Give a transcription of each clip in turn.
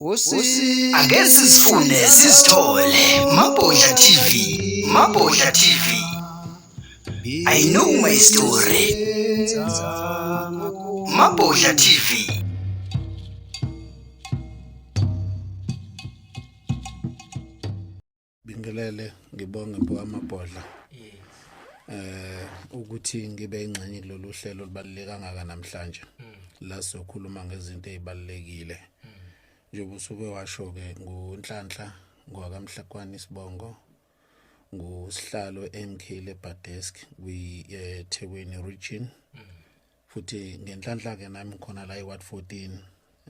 Ake sizifune sizithole Mabhodla TV, Mabhodla TV. I know my story. Mabhodla TV. Bingelele ngibonge mpo amabhodla. Yes. Eh ukuthi ngibe ingxenye kulolu hlelo olubaluleke kangaka namhlanje. Mm. La sokhuluma ngezinto ezibalekile. Mm. Njengoba usuke washo ke ngunhlanhla ngwakamhlakwani sibongo. Mm. ngusihlalo eMkhile Badesk kwi-Thekwini eh, region futhi ngenhlanhla ke nami khona la iward 14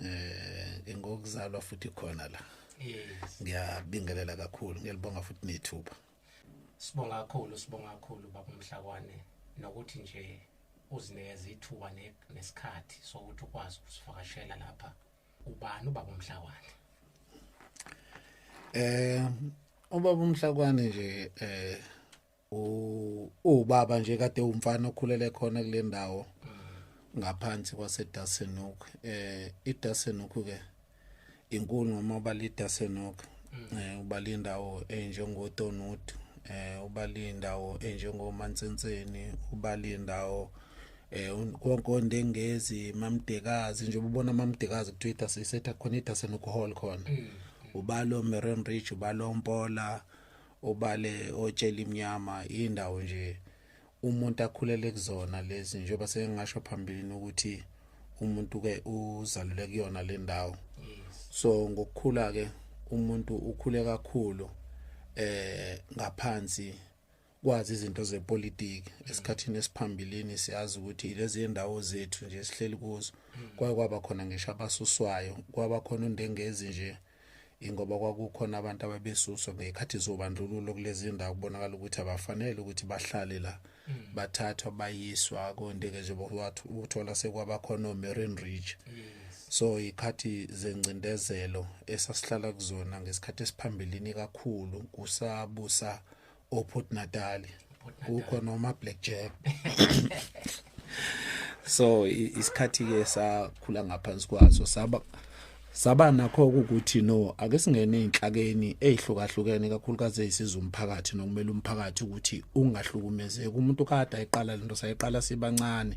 eh ngingokuzalwa futhi khona la yes ngiyabingelela kakhulu ngiyalibonga futhi nethuba sibonga kakhulu sibonga kakhulu baba Mhlakwane nokuthi nje uzinikeza ithuba nesikhathi sokuthi ukwazi ukusivakashela lapha ubani ubaba Mhlakwane eh ubaba Mhlakwane nje eh uwubaba nje kade umfana okhulele khona kule ndawo ngaphansi kwasedasenok eh idasenok ke inkulu noma ubala idasenok mm. eh ubala indawo enjengotonut eh ubala indawo enjengomantsenseni ubala indawo eh konkonde ngezi mamdekazi njengoba ubona mamdekazi kutwitter sisetha khona idasenok hall khona mm, mm. ubalo meron ridge ubalo mpola obale otshela imnyama indawo nje umuntu akhulele kuzona lezi njengoba sengasho phambilini ukuthi umuntu ke uzalule kuyona le ndawo so ngokukhula ke umuntu ukhule kakhulu eh ngaphansi kwazi izinto zepolitiki esikhathini esiphambilini siyazi ukuthi lezi ndawo zethu nje sihleli kuzo kwaye kwaba khona ngisho abasuswayo kwaba khona undengezi nje mm. ingoba kwakukhona abantu ababesuswa ngekhathi zobandlululo kulezi ndawo kubonakala ukuthi abafanele ukuthi bahlale la mm. bathathwa bayiswa kondeke nje uthola sekwabakhona omarine ridge so ikhathi zengcindezelo esasihlala kuzona ngesikhathi esiphambilini kakhulu kusabusa oPort Natal kukho noma Black Jack so isikhathi ke sakhula ngaphansi kwaso saba saba nakho ukuthi no ake singene einhlakeni ezihlukahlukene kakhulukazi ezisiza umphakathi nokumele umphakathi ukuthi ungahlukumezeki umuntu kade ayiqala lento sayiqala sibancane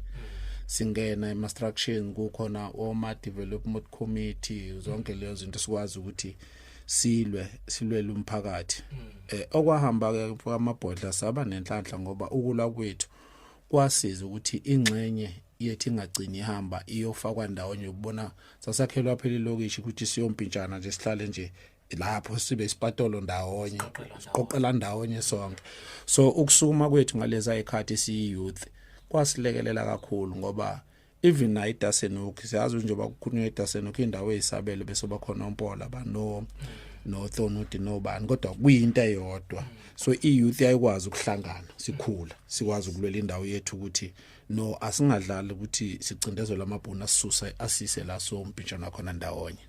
singena ema structures kukhona oma development committee zonke lezo zinto sikwazi ukuthi silwe silwele umphakathi mm. eh okwahamba ke kwamabhodla saba nenhlanhla ngoba ukula kwethu kwasiza ukuthi ingxenye yethi ingagcini ihamba iyofakwa ndawonye ukubona sasakhelwa phela ilokishi ukuthi siyompintshana nje sihlale nje lapho sibe isipatolo ndawonye siqoqela ndawonye sonke so ukusukuma kwethu ngaleza ikhathi si youth kwasilekelela kakhulu ngoba even nayo idasenokhi siyazi njengoba kukhulunywa idasenokhi indawo eyisabelo bese bakhona ompola bano nothonudi nobani kodwa kuyinto eyodwa so iyouth yayikwazi ukuhlangana sikhula sikwazi ukulwela indawo yethu ukuthi no asingadlali ukuthi sicindezelwe amabhunu asisusa asise la so umpintshana wakhona ndawonye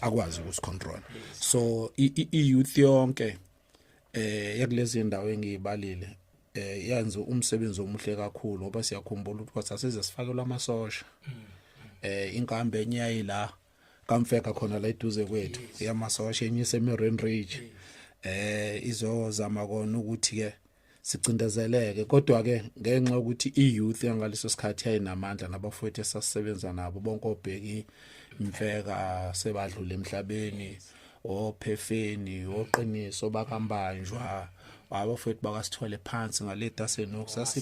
akwazi ukusicontrola so iyouth yonke eh yakulezi ndawo engiyibalile eh yenza umsebenzi omuhle kakhulu ngoba siyakhumbula ukuthi kwathi asize sifakelwa amasosha eh inkambe enye yayila kamfeka khona la eduze kwethu yamasosha enye iseMerin Ridge eh izozama kona ukuthi ke sicindezeleke kodwa ke ngenxa yokuthi iyouth yangaleso sikhathi yayinamandla nabafowethu esasebenza nabo bonke obheki imfeka sebadlule emhlabeni ophefeni oqiniso bakambanjwa abafowethu bakasithole phansi ngaleta senok sasi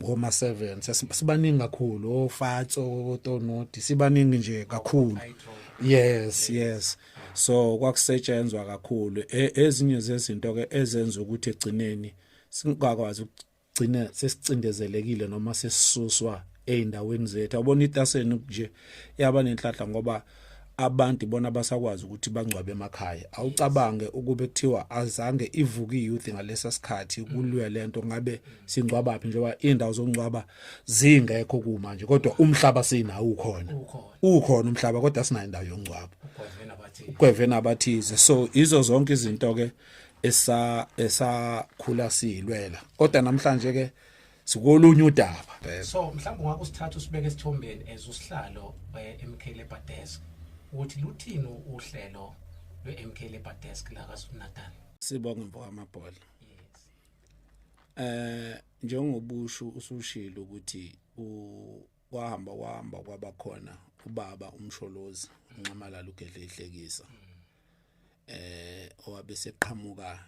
ngoma 7 sasibaningi kakhulu ofatso otonoti sibaningi nje kakhulu yes yes so kwakusetshenzwa kakhulu e, ezinye zezinto ke ezenza ukuthi egcineni singakwazi ukugcina sesicindezelekile noma sesisuswa eindaweni zethu abona itaseni nje yaba nenhlahla ngoba abantu bona basakwazi ukuthi bangcwabe emakhaya awucabange ukube kuthiwa azange ivuke youth ngalesa sikhathi kulwe lento ngabe singcwabaphi njengoba indawo zongcwaba zingekho kumanje kodwa umhlaba sinawo ukhona ukhona umhlaba kodwa sinayo indawo yongcwabo kwevena abathize so izo zonke izinto ke esa esakhula silwela kodwa namhlanje ke sikolunye udaba so mhlawumbe ungakho sithatha usibeke esithombeni ezusihlalo eh, MK Labor Desk ukuthi luthini uhlelo lwe-MK Labor Desk la KwaZulu-Natal sibonge mfowamabhola yes eh njengobushu usushilo ukuthi wahamba wahamba kwaba khona ubaba umsholozi unxamalala ugedle ihlekisa eh owabe seqhamuka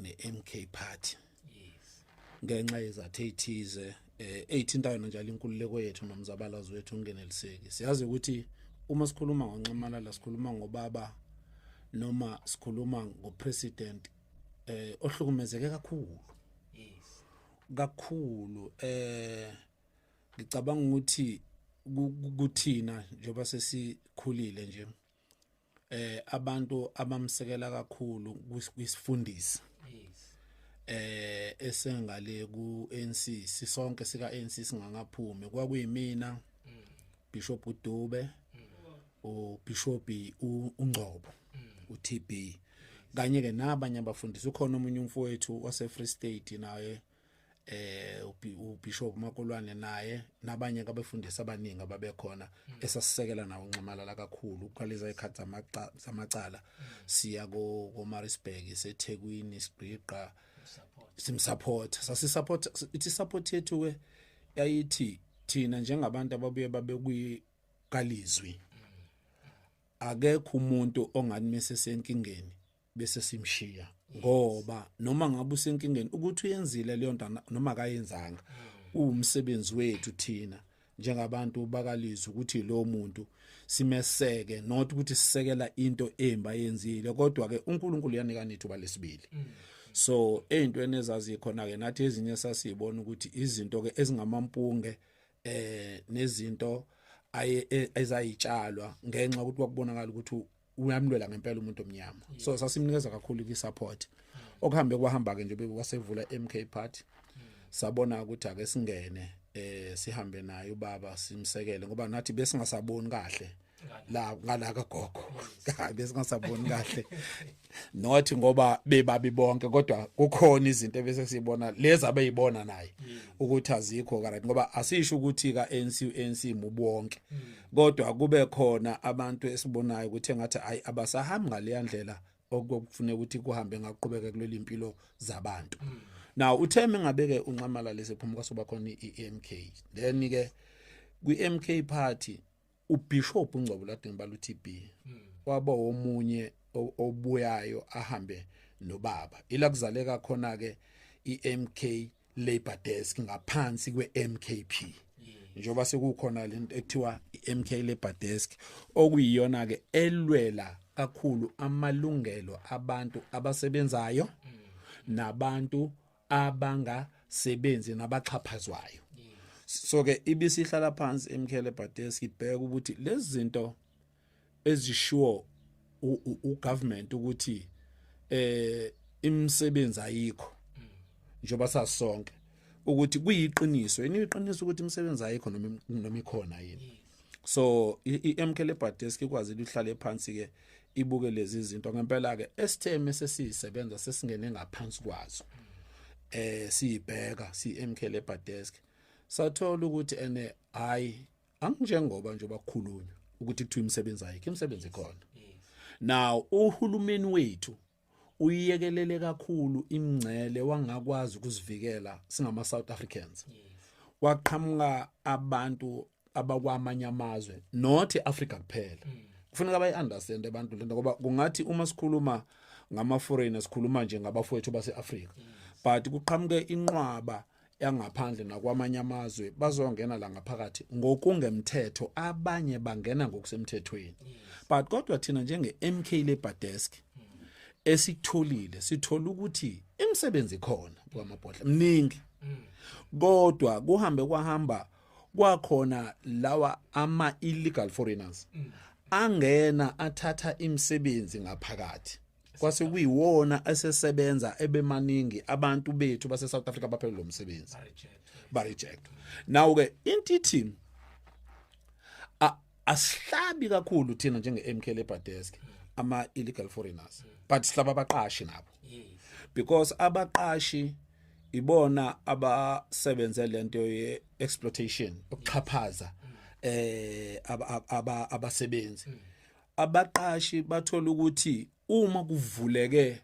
neMK party yes ngenxa yezathe ithize eh eyithintayo njalo inkululeko yethu nomzabalazo wethu ungeneliseki siyazi ukuthi uma sikhuluma ngonxamalala sikhuluma ngobaba noma sikhuluma ngopresident eh ohlukumezeke kakhulu yes kakhulu eh ngicabanga ukuthi kuthina njengoba sesikhulile nje eh abantu abamsekela kakhulu kwisifundisi yes eh esengale ku ANC sisonke sika ANC singangaphumi kwakuyimina mm. Bishop Dube ubishophi uNgcobo uTB kanye ke nabanye abafundisi ukhona omunye umfowethu wase Free State naye eh ubishop Makolwane naye nabanye abefundisi abaningi ababekhona esasisekela nawo unxamalala kakhulu uqalisa ikhathi zamacala siya ko Marisburg eseThekwini sigqiqa simsupport sasisupport ithi support yethu ke yayithi thina njengabantu ababuye babe kwi kalizwi akekho umuntu ongathi mese senkingeni bese simshiya ngoba noma ngabe usenkingeni ukuthi uyenzile leyo nto noma akayenzanga uwumsebenzi wethu thina njengabantu bakalizwe ukuthi lo muntu simeseke not ukuthi sisekela into embi ayenzile kodwa ke uNkulunkulu uyanika nithu balesibili mm. so ezintweni ezazikhona ke nathi ezinye sasibona ukuthi izinto ke ezingamampunge eh nezinto aye e, ezayitshalwa ngenxa ukuthi kwakubonakala ukuthi uyamlwela ngempela umuntu omnyama so sasimnikeza kakhulu ki support okuhambe kwahamba ke nje bekwasevula MK party sabona ukuthi ake singene eh sihambe naye ubaba simsekele ngoba nathi besingasaboni kahle la ngala ka gogo kabe singasaboni kahle not ngoba bebabi bonke kodwa kukhona izinto ebese sibona lezi abeyibona naye mm. ukuthi azikho right ngoba asisho ukuthi ka ANC ANC mubonke mm. kodwa kube khona abantu esibonayo ukuthi engathi ayi abasahambi ngale ndlela okufuneka ukuthi kuhambe ngaqhubeka kuleli impilo zabantu mm. now utheme ngabeke unxamala lesephumuka soba khona iMK then ke kwi MK party uBishop uNgcobo Ladini baluTB hmm. waba omunye obuyayo ahambe nobaba ila kuzaleka khona ke iMK Labor Desk ngaphansi kweMKP njengoba sekukhona lento ekuthiwa iMK Labor Desk okuyiyona ke elwela kakhulu amalungelo abantu abasebenzayo hmm. nabantu abangasebenzi nabaxhaphazwayo so ke ibisihlala phansi emkhele badesk ibheka ukuthi lezi zinto ezishiwo ugovernment ukuthi eh imisebenzi ayikho njengoba sasonke ukuthi kuyiqiniso yini iqiniso ukuthi imisebenzi ayikho noma noma ikhona yini so iMK le Badesk ikwazi ukuhlale phansi ke ibuke lezi zinto ngempela ke esitheme sesisebenza sesingene ngaphansi kwazo eh siyibheka siMK le Badesk sathola ukuthi ene hayi anginjengoba nje bakhulunywa ukuthi kuthiwa imisebenzi ayikho imisebenzi ikhona now uhulumeni wethu uyiyekelele kakhulu imngcele wangakwazi ukuzivikela singama South Africans waqhamuka abantu abakwamanye amazwe not Africa kuphela mm. kufuneka bayi understand abantu lento ngoba kungathi uma sikhuluma ngama foreigners sikhuluma nje ngabafowethu base Africa mm. but kuqhamuke inqwaba yangaphandle nakwamanye amazwe bazongena la ngaphakathi ngokungemthetho abanye bangena ngokusemthethweni but kodwa thina njenge MK Labor Desk esitholile sithola ukuthi imisebenzi khona kwamabhodla mningi kodwa kuhambe kwahamba kwakhona lawa ama illegal foreigners angena athatha imisebenzi ngaphakathi kwase kuyiwona esesebenza ebemaningi abantu bethu base South Africa baphelele lomsebenzi ba reject now ke intiti asihlabi kakhulu thina njenge MK Labor Desk ama illegal foreigners but sihlaba abaqashi nabo because abaqashi ibona abasebenze lento ye exploitation ukuxhaphaza eh abasebenzi abaqashi bathola ukuthi uma kuvuleke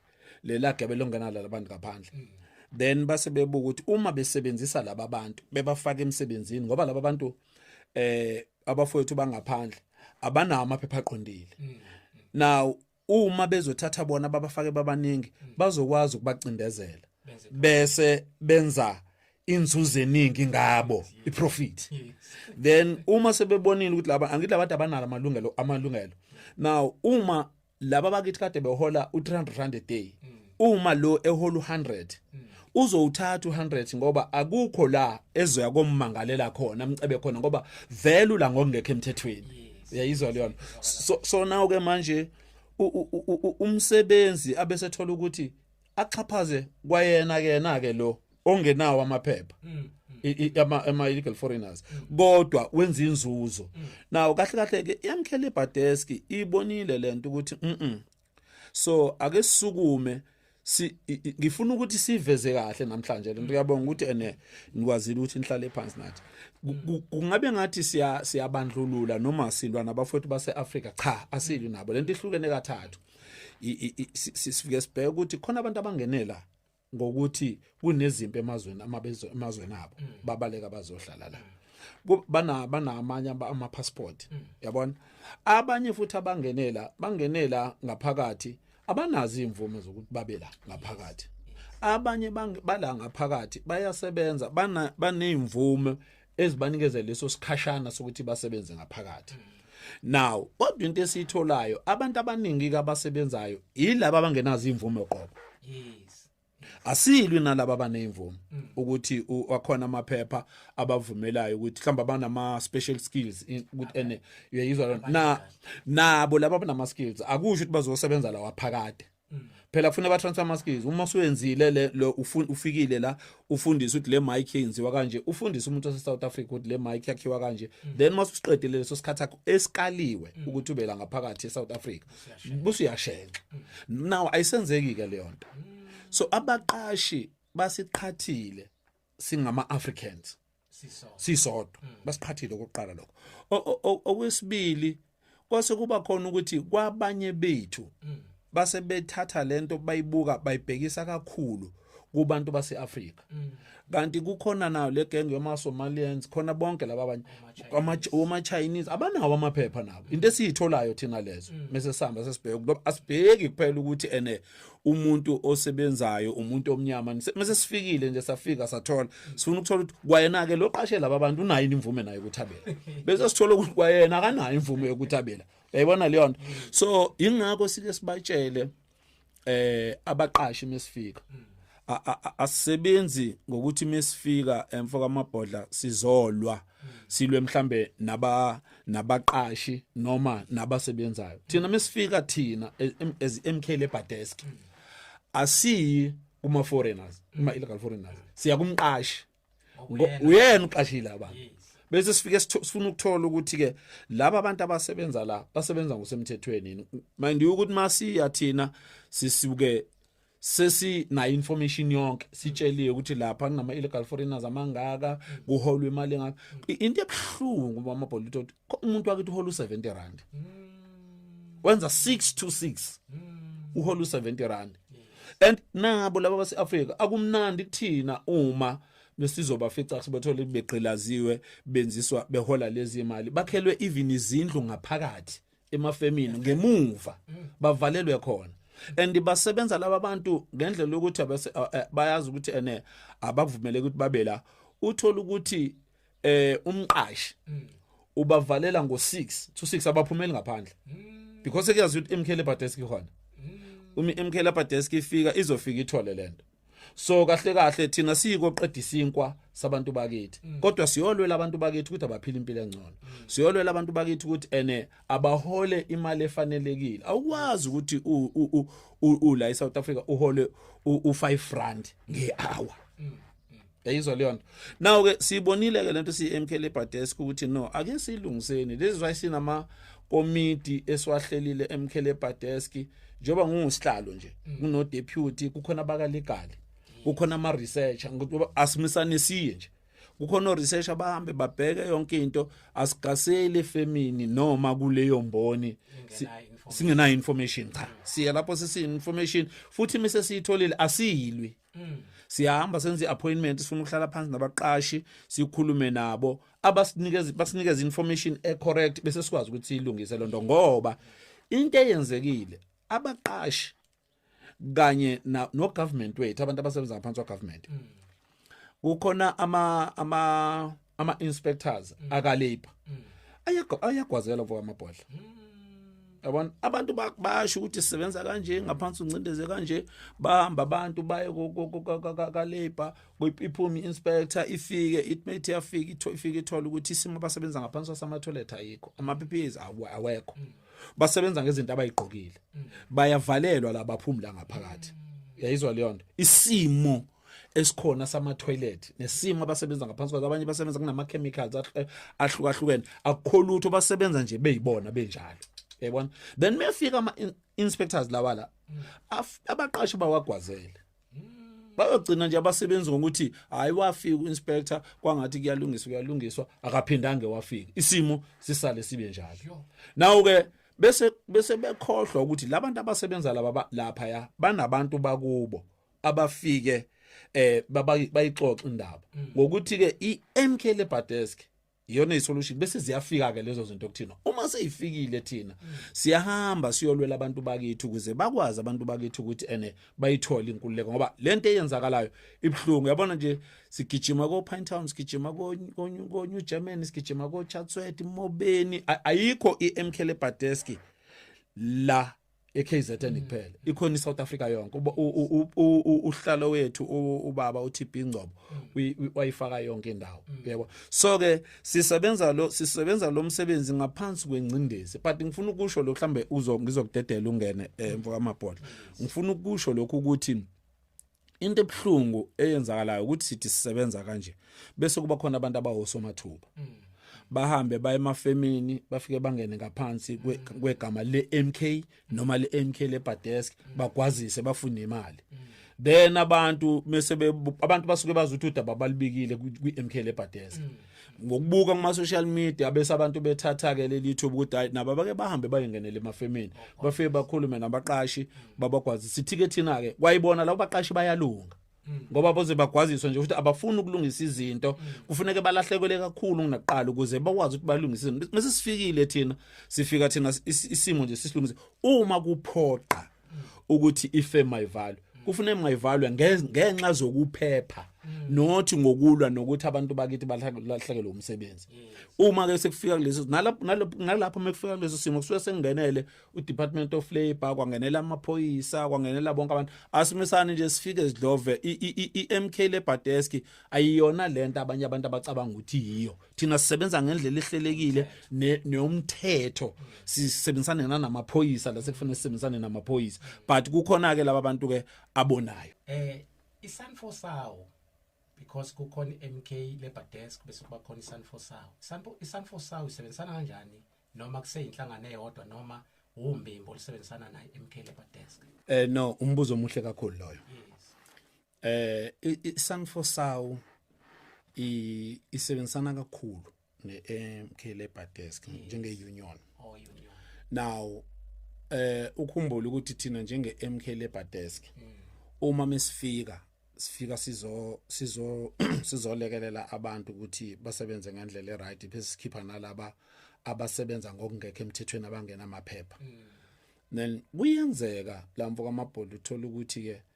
lela gebe longena labantu ngaphandle mm. then base bebuka ukuthi uma besebenzisa laba bantu bebafaka emsebenzini ngoba laba bantu eh abafowethu bangaphandle abanawo amaphepha aqondile mm, mm. now uma bezothatha bona babafake babaningi mm. bazokwazi ukubacindezela bese benza inzuzo eningi ngabo iprofit then uma sebebonile ukuthi laba angithi labantu abanalo amalungelo amalungelo now uma laba bakithi kade behola u300 rand a day mm. uma lo ehola u100 mm. uzowuthatha u100 ngoba akukho la ezoya kommangalela khona amcebe khona ngoba vele ula ngokungekho emthethweni uyayizwa leyo so so nawo ke manje umsebenzi abesethola ukuthi axhaphaze kwayena kena ke lo ongenawo amaphepha mm, mm. ama ama illegal foreigners mm. kodwa wenza inzuzo nawo kahle kahle ke yamkhele badesk ibonile lento ukuthi mhm so ake sisukume si ngifuna ukuthi siveze kahle namhlanje lento uyabonga ukuthi ene nikwazile ukuthi nihlale phansi nathi kungabe ngathi siya siyabandlulula noma silwa nabafowethu baseAfrika cha asili nabo lento ihlukene kathathu sifike sibheke ukuthi khona abantu abangenela ngokuthi kunezimpi emazweni amabezo emazweni abo mm. babaleka bazohlala la mm. bana banamanye ama passport mm. yabona abanye futhi abangenela bangenela ngaphakathi abanazi imvume zokuthi babe la ngaphakathi abanye bala ngaphakathi bayasebenza bana baneimvume ezibanikeza leso sikhashana sokuthi basebenze ngaphakathi now kodwa into esiyitholayo abantu abaningi abasebenzayo yilabo abangenazo imvume qobo yes asilwi nalabo abanezimvume mm. ukuthi wakhona amaphepha abavumelayo ukuthi mhlawumbe abanama special skills ukuthi ene uyayizwa na nabo laba abanama skills akusho ukuthi bazosebenza lawa phakade Mm. phela funa abatransfer maskis uma usuyenzile le lo ufikile la ufundisa ukuthi le mic yenziwa kanje ufundisa umuntu wase South Africa ukuthi le mic yakhiwa kanje mm. then mase usiqedile leso sikhathi akho esikaliwe mm. ukuthi ubela ngaphakathi eSouth Africa busu yashenxa now ayisenzeki ke leyo nto so abaqashi basiqhathile singama Africans sisodwa mm. basiqhathile okokuqala lokho okwesibili kwase kuba khona ukuthi kwabanye bethu mm. base bethatha lento bayibuka bayibhekisa kakhulu kubantu baseAfrika mm. kanti kukhona nayo le gang yama Somalians khona bonke laba abanye ama Chinese abanawo amaphepha nabo into esiyitholayo thina lezo mese sihamba sesibheke asibheki kuphela ukuthi ene umuntu osebenzayo umuntu omnyama mase sifikile nje safika sathola sifuna ukuthola ukuthi kwayena ke loqashela ababantu unayo imvume nayo ukuthabela bese sithola ukuthi kwayena akanayo imvume yokuthabela yayibona leyo nto so ingakho sike sibatshele eh abaqashi mesifika asisebenzi ngokuthi mesifika emfo kamabhodla sizolwa silwe mhlambe naba nabaqashi noma nabasebenzayo thina mesifika thina e, as MK labor desk asiyi kuma foreigners kuma illegal foreigners siya kumqashi uyena uqashile abantu bese sifike sifuna ukuthola ukuthi ke laba abantu abasebenza la basebenza ngosemthethweni mind you ukuthi masiya thina sisuke sesi na information yonke sitsheliwe ukuthi lapha kunama illegal foreigners amangaka kuholwa imali engaka into ebhlungu mama Bolito umuntu wakithi uhola u70 rand hmm. wenza 6 to 6 hmm. uhola u70 rand yes. and nabo laba base-afrika akumnandi kuthina uma besizobafica sibethole begqilaziwe benziswa behola lezi mali bakhelwe even izindlu ngaphakathi emafemini ngemuva bavalelwe khona and basebenza laba bantu ngendlela yokuthi bayazi ukuthi ene abakuvumeleki ukuthi babe la uthola ukuthi eh umqashi mm. ubavalela ngo6 to 6 abaphumeli ngaphandle mm. because kuyazi ukuthi imkhele badesk khona mm. umi imkhele badesk ifika izofika ithole lento so kahle kahle thina siyiko qedisa inkwa sabantu bakithi mm. kodwa siyolwela abantu bakithi ukuthi abaphile impilo engcono mm. siyolwela abantu bakithi ukuthi ene abahole imali efanelekile awukwazi ukuthi u la eSouth Africa uhole u5 rand ngehour mm. yayizwa leyo nto now ke siyibonile ke lento siyi-mk labour desk ukuthi no ake siyilungiseni this is why sinama komiti esiwahlelile emk labour desk njengoba ngingusihlalo nje mm. kuno deputy kukhona abakalegali kukhona ama researcher asimisane siye nje kukhona oresearch abahambe babheke yonke into asigaseli efemini noma kuleyo mboni singenayo information cha siya lapho sesiyi information futhi mise siyitholile asiyilwi Mm. siyahamba senze appointment sifuna ukuhlala phansi nabaqashi sikhulume nabo abasinikeza basinikeza information e correct bese sikwazi ukuthi ilungise lonto ngoba into eyenzekile abaqashi kanye no government wethu abantu abasebenza ngaphansi kwa government mm. kukhona ama ama ama inspectors mm. aka labor mm. ayagwa ayagwazela kwa amabhodla mm. yabona abantu bayasho ukuthi sisebenza kanje ngaphansi uncindeze kanje bahamba abantu baye ka labor iphuma inspector ifike it may yafika ifike ithola ukuthi isimo abasebenza ngaphansi sama toilet ayikho ama PPEs awekho mm. basebenza ngezinto abayigqokile mm. bayavalelwa labaphumula ngaphakathi mm. yayizwa leyo nto isimo mm. esikhona sama toilet nesimo abasebenza ngaphansi kwazo abanye basebenza kunama chemicals eh, ahlukahlukene akukho lutho basebenza nje beyibona benjalo yabona then mefika ama inspectors lawa la abaqashi bawagwazele bayogcina nje abasebenzi ngokuthi hayi wafika uinspector kwangathi kuyalungiswa kuyalungiswa akaphindange wafika isimo sisale sibe njalo nawo ke bese bese bekhohlwa ukuthi labantu abasebenza laba lapha ya banabantu bakubo abafike eh bayixoxa indaba mm. ngokuthi ke iMK Lebadesk iyona isolution bese ziyafika ke lezo zinto kuthina uma seyifikile thina mm. siyahamba siyolwela abantu bakithi ukuze bakwazi abantu bakithi ukuthi ene bayithole inkululeko ngoba lento eyenzakalayo ibhlungu yabona nje sigijima ko Pine Town sigijima ko ko New Germany sigijima ko Chatsworth Mobeni ayikho iMK Lebadesk la eKZN kuphela ikhona iSouth Africa yonke uhlalo wethu ubaba uTB Ngcobo wayifaka yonke indawo yebo so ke sisebenza lo sisebenza lo msebenzi ngaphansi kwengcindezi but ngifuna ukusho lokho mhlambe uzo ngizokudedela ungene emva eh, kwamabhodla ngifuna ukusho lokho ukuthi into ebuhlungu eyenzakalayo ukuthi sithi sisebenza kanje bese kuba khona abantu abawosomathuba mm. bahambe baye emafemini bafike bangene ngaphansi mm. kwegama le-MK noma le-MK lebadesk mm. bagwazise bafune imali mm. then abantu mese abantu basuke bazi ukuthi udaba balibikile kwi-MK lebadeza mm. ngokubuka kuma social media bese abantu bethatha ke leli YouTube ukuthi hayi nabo bake bahambe bayengenele emafemini bafike bakhulume nabaqashi babagwazi sithi ke thina ke kwayibona labo baqashi bayalunga hmm. ngoba boze bagwaziswa nje ukuthi abafuni ukulungisa izinto hmm. kufuneka balahlekwele kakhulu kunaqala ukuze bakwazi ukuthi balungise izinto mase sifikile thina sifika thina isimo nje sisilungise uma kuphoqa ukuthi ife mayivalwe kufuna engayivalwe ngenxa zokuphepha mm. not ngokulwa nokuthi abantu bakithi balahlekelwe umsebenzi uma ke sekufika kulezi nalapho nalapho mekufika kulezi simo kusuke sengenele uDepartment of Labor kwangenela amaphoyisa kwangenela bonke abantu asimisane nje sifike sidlove iMK Labor Desk ayiyona lento abanye abantu abacabanga ukuthi yiyo thina sisebenza ngendlela ehlelekile neumthetho sisebenzisane namaphoyisa la sekufanele sisebenzisane namaphoyisa but kukhona ke laba bantu ke abonayo eh isanfo sawo because kukhona MK labor desk bese kuba khona isanfo sawo isanfo isanfo sawo isebenzisana kanjani noma kuseyinhlangano eyodwa noma umbimbo olisebenzisana naye MK labor desk eh no umbuzo omuhle kakhulu loyo yes. eh isangfosawu isebenzisana kakhulu ne-MK Labour Desk njenge-union oh union now eh ukhumbula ukuthi thina njenge-MK Labour Desk mm. uma mesifika sifika sizo sizo sizolekelela abantu ukuthi basebenze ngendlela eright bese sikhipha nalaba abasebenza ngokungekho emthethweni abangena amaphepha mm. then kuyenzeka lamfo kaMabholi uthola ukuthi ke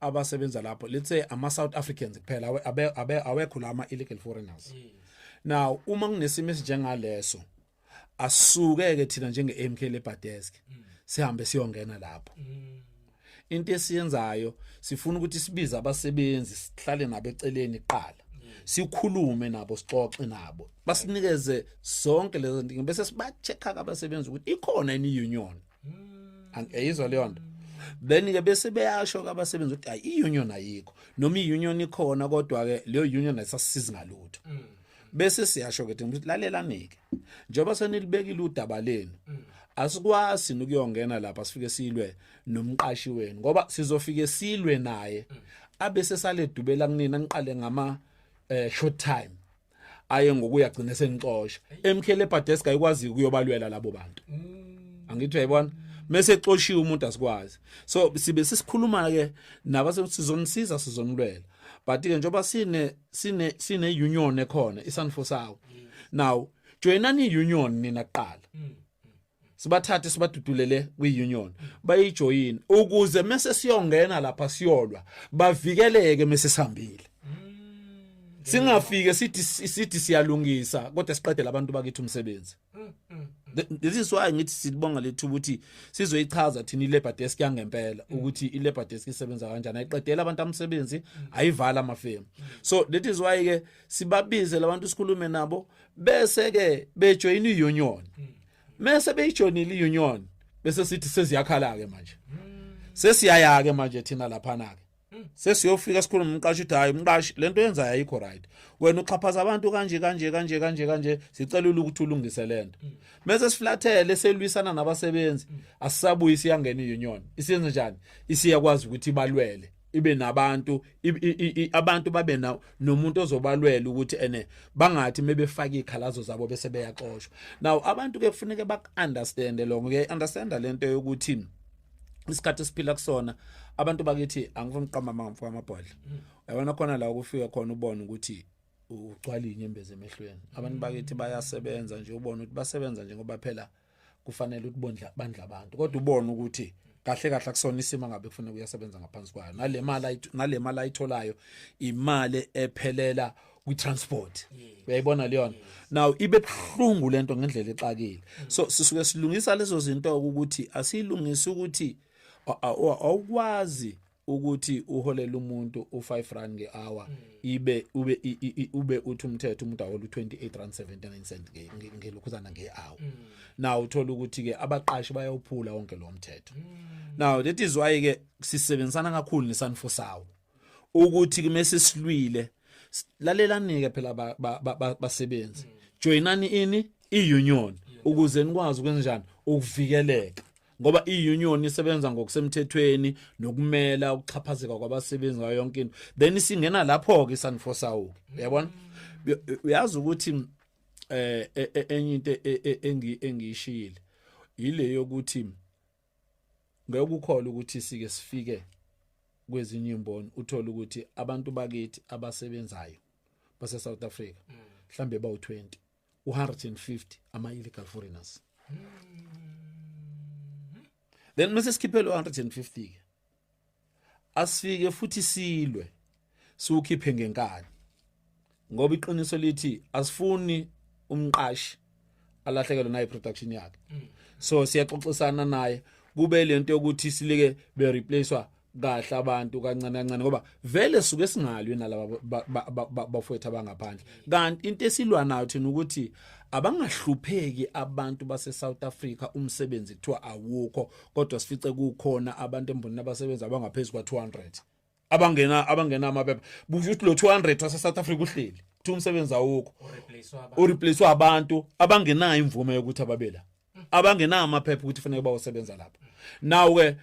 abasebenza lapho let's say ama South Africans kuphela awekho lama illegal foreigners now uma kunesimo esinjengaleso asuke ke thina njenge MK Labor Desk sihambe siyongena lapho into esiyenzayo sifuna ukuthi sibize abasebenzi sihlale nabo eceleni kuqala sikhulume nabo sixoxe nabo basinikeze zonke lezo ndingo bese sibacheck abasebenzi ukuthi ikhona ini union angiyizwa leyo nto then ke bese beyasho ke abasebenzi ukuthi hayi iunion ayikho noma iunion ikhona kodwa ke leyo union ayisasizi ngalutho mm. bese siyasho ke ukuthi lalelani ke njengoba senilibekile udaba lenu mm. asikwazi ukuyongena lapha sifike silwe nomqashi wenu ngoba sizofike silwe naye mm. abese sale dubela kunina niqale ngama eh, short time aye ngokuya gcina sengixosha MK Labor Desk ayikwazi ukuyobalwela labo bantu mm. angithi uyayibona mese exoshiwe umuntu asikwazi so sibe sisikhuluma ke nabase sizonisiza sizonilwela but ke njoba sine sine sine union ekhona isanfosawo mm. now joinani union nina kuqala mm. sibathathe sibadudulele kwi-union bayijoyine ukuze mese siyongena lapha siyolwa bavikeleke mese sihambile singafike sithi sithi siyalungisa kodwa siqedela abantu bakithi umsebenzi this is why ngithi silibonga lethu ukuthi sizoyichaza thina ilabor desk yangempela ukuthi ilabor desk isebenza kanjani ayiqedela abantu amsebenzi ayivala amafemu so that is why ke sibabize labantu sikhulume nabo bese ke bejoyina iunion mase beyijoinile iunion bese sithi seziyakhala ke manje sesiyaya ke manje thina lapha na ke sesiyofika sikhuluma umqashi uthi hayi umqashi lento yenza ayikho right wena uxhaphaza abantu kanje kanje kanje kanje kanje sicela ukuthi ulungise lento mase siflathele selwisana nabasebenzi asisabuyisi yangena iunion isiyenze njani isiyakwazi ukuthi balwele ibe nabantu abantu babe na nomuntu ozobalwela ukuthi ene bangathi mebefaka ikhalazo zabo bese beyaxoshwa now abantu ke kufuneka baku understand lo ngeke understand lento yokuthi isikhathi esiphila kusona abantu bakithi angifuni uqamba amamfo amabhodla mm. yabona khona la ukufika khona ubone ukuthi ugcwala inyembezi emehlweni abantu bakithi bayasebenza nje ubone ukuthi basebenza nje ngoba phela kufanele ukuthi bondla bandla abantu kodwa ubone ukuthi kahle kahle akusona isimo ngabe kufanele kuyasebenza ngaphansi kwayo nalemali nalemali ayitholayo imali ephelela kwitransport uyayibona leyona now ibe buhlungu lento ngendlela exakile mm. so sisuke silungisa lezo zinto ukuthi asilungise ukuthi awukwazi ukuthi uholela umuntu u5 rand ngehour hmm. ibe ube ube uthi umthetho umuntu ahola u28 rand 79 cent ngelokhuzana ngehour hmm. now uthola ukuthi ke abaqashi bayawuphula wonke lo mthetho hmm. now that is why ke sisebenzisana kakhulu nesanfosawo ukuthi kumese silwile lalelani ke phela basebenzi joinani ini iunion ukuze nikwazi ukwenzenjani ukuvikeleka ngoba i-union isebenza ngokusemthethweni nokumela ukuxhaphazeka kwabasebenzi ngayo yonke into then isingena lapho-ke isandifosawu uyabona uyazi ukuthi um enye into e, e, e, engiyishile yile yokuthi ngeke ukukhola ukuthi sike sifike kwezinye imboni uthole ukuthi abantu bakithi abasebenzayo base South Africa mm. mhlambe bawu 20 150 ama illegal foreigners then mase sikhiphele 150 ke asifike futhi silwe siwukhiphe ngenkani ngoba iqiniso lithi asifuni umqashi alahlekelwe nayi production yakhe so siyaxoxisana naye kube lento yokuthi silike be replacewa kahle abantu kancane kancane ngoba vele suke singalwi nalaba bafowethu abangaphandle kanti into esilwa nayo thina ukuthi abangahlupheki abantu base South Africa umsebenzi kuthiwa awukho kodwa sifice kukhona abantu embonini abasebenza abangaphezulu kwa 200 abangena abangena amaphepha busho ukuthi lo 200 wase South Africa uhleli kuthiwa umsebenzi awukho ureplacewa abantu abangenayo imvume yokuthi ababela abangenawo amaphepha ukuthi fanele bawosebenza lapha nawu ke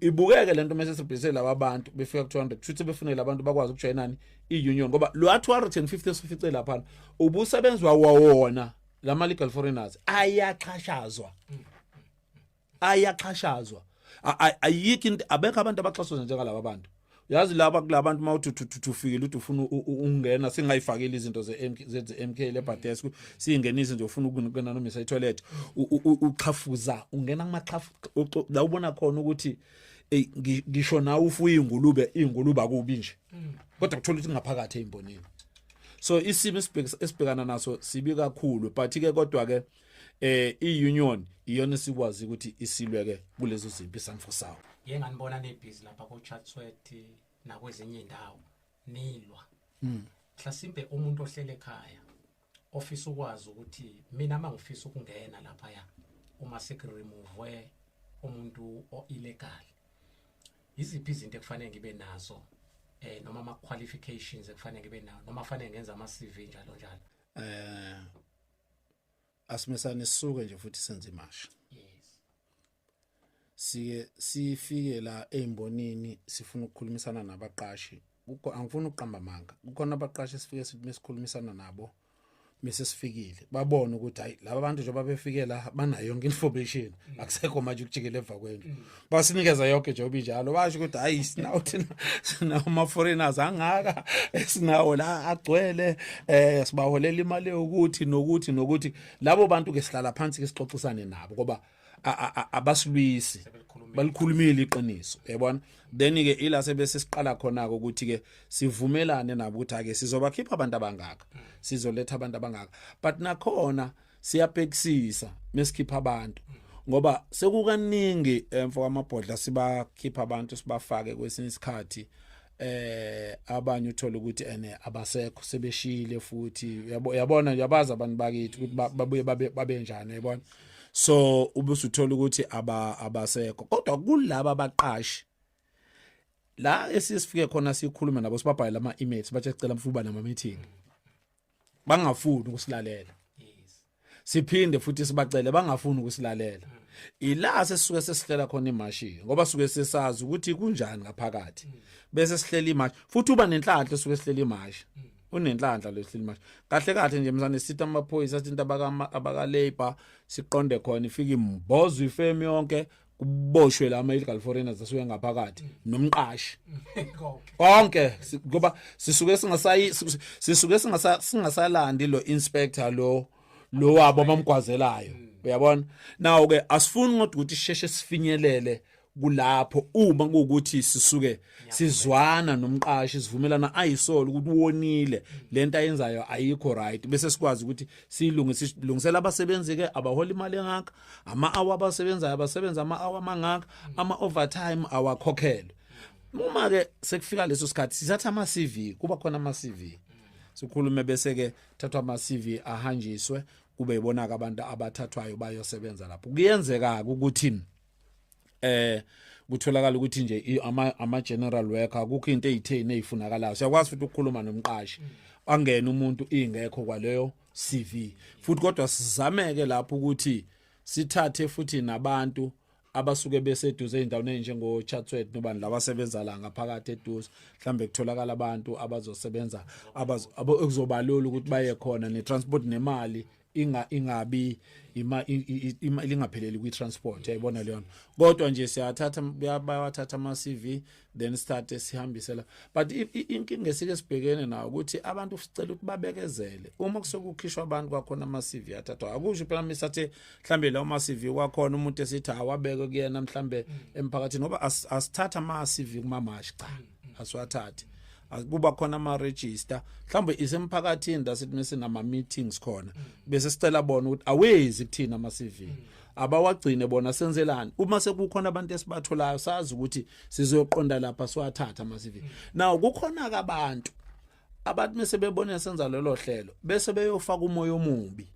ibukeke lento mase sibhise laba bantu befika ku 200 futhi befunele abantu bakwazi ukujoinani iunion ngoba lo 250 esifice lapha ubusebenzwa wona lama legal foreigners ayaxhashazwa ayaxhashazwa ayikho into abekho abantu abaxhaswa njengalaba bantu yazi laba kulabantu mawuthuthuthufikile uthi ufuna ukungena singayifakile izinto zeMK zeMK lebhadesk singenise nje ufuna ukungena noma isa toilet uxhafuza ungena kumaxhafu la ubona khona ukuthi ey ngisho na ufuye ingulube ingulube akubi nje mm. kodwa kuthola ukuthi ngaphakathi ezimbonini so isimo esibhekana naso sibi kakhulu but ke kodwa ke eh iunion iyona esikwazi ukuthi isilweke kulezo zimpi samfo sawo yeke nganibona nebhizi lapha ko Chatsworth nakwezinye indawo nilwa mm. mhlasimbe umuntu ohlele ekhaya ofisa ukwazi ukuthi mina mangifisa ukungena lapha ya uma seke remove umuntu o illegal iziphi izinto ekufanele ngibe nazo eh noma ama qualifications ekufanele ngibe nawo noma fanele ngenza ama CV njalo njalo eh asimesane sisuke nje futhi senze imashi sike sifike la ezimbonini sifuna ukukhulumisana nabaqashi kukho angifuni ukuqamba amanga kukhona abaqashi sifike sithi mesikhulumisana nabo mase sifikile babone ukuthi hayi laba bantu njengoba befike la banayo yonke information mm. akusekho manje ukujikela emva kwendlu mm. basinikeza yonke njengoba injalo basho ukuthi hayi sinawo thina sinawo ama-foreigners angaka esinawo la agcwele um sibaholela imali yokuthi nokuthi nokuthi labo bantu-ke sihlala phansi-ke sixoxisane nabo ngoba abasilwisi balikhulumile iqiniso yabona then-ke ila sebese siqala khona-ke ukuthi-ke sivumelane nabo ukuthi ake sizobakhipha abantu abangaka sizoletha abantu abangaka but nakhona mm. siyabhekisisa mesikhipha abantu ngoba sekukaningi emfo eh, kwamabhodla sibakhipha abantu sibafake kwesinye isikhathi eh abanye uthola ukuthi ene abasekho sebeshile futhi uyabona uyabaza abantu bakithi ukuthi babuye babe babe njani yabona so ubusuthola ukuthi aba abasekho kodwa kulaba abaqashi la esisifike khona sikhuluma nabo sibabhayela ama emails bathi sicela mfuba nama meeting bangafuni ukusilalela siphinde futhi sibacele bangafuni ukusilalela ila sesuke sesihlela khona imashi ngoba suke sesazi ukuthi kunjani ngaphakathi bese sihlela imashi futhi uba nenhlanhla suke sihlela imashi unenhlanhla lesihleli manje kahle kahle nje msane sitha amaphoyisa sithinta abaka abaka labor siqonde khona ifike imbozo ifemi yonke kuboshwe la ama illegal foreigners asuke ngaphakathi nomqashi konke ngoba sisuke singasayi sisuke singasa singasalandi lo inspector lo lo wabo abamgwazelayo mm. uyabona nawo ke asifuni ngodwa ukuthi sheshe sifinyelele kulapho uma kuwukuthi sisuke sizwana nomqashi sivumelana ayisolo ukuthi wonile lento ayenzayo ayikho right bese sikwazi ukuthi silungise silungisela abasebenzi ke abahola imali engaka ama hour abasebenzayo abasebenza ama hour mangaka ama overtime awakhokhelwe uma ke sekufika leso sikhathi sithatha ama CV kuba khona ama CV sikhulume bese ke thathwa ama CV ahanjiswe kube ibona ke abantu abathathwayo bayosebenza lapho kuyenzeka ukuthi eh kutholakala ukuthi nje ama ama general worker kukho into ezitheni ezifunakalayo siyakwazi futhi ukukhuluma nomqashi angene umuntu ingekho kwaleyo CV futhi kodwa sizameke lapho ukuthi sithathe futhi nabantu abasuke beseduze ezindaweni ezinjengo Chatsworth nobani laba sebenza la ngaphakathi eduze mhlambe kutholakala abantu abazosebenza abazobalula ukuthi baye khona ne transport nemali inga ingabi ima lingapheleli kwi transport yayibona leyo kodwa nje siyathatha bayawathatha ama CV then start sihambise la but inkinga esike sibhekene nayo ukuthi abantu sicela ukuthi babekezele uma kusokukhishwa abantu kwakhona ama CV athathwa akusho phela misa the mhlambe la uma CV kwakhona umuntu esithi awabeke kuyena mhlambe mm. emphakathini ngoba asithatha ama CV kuma mash cha mm, mm. asiwathathi kuba khona ama register mhlambe isemphakathini dasithi mesinama meetings khona bese sicela bona ukuthi awezi kuthina ama CV abawagcine bona senzelani uma sekukhona abantu esibatholayo sazi ukuthi sizoqonda lapha siwathatha masivi now kukhona ke abantu abantu mese bebona senza lelo hlelo bese beyofaka umoya omubi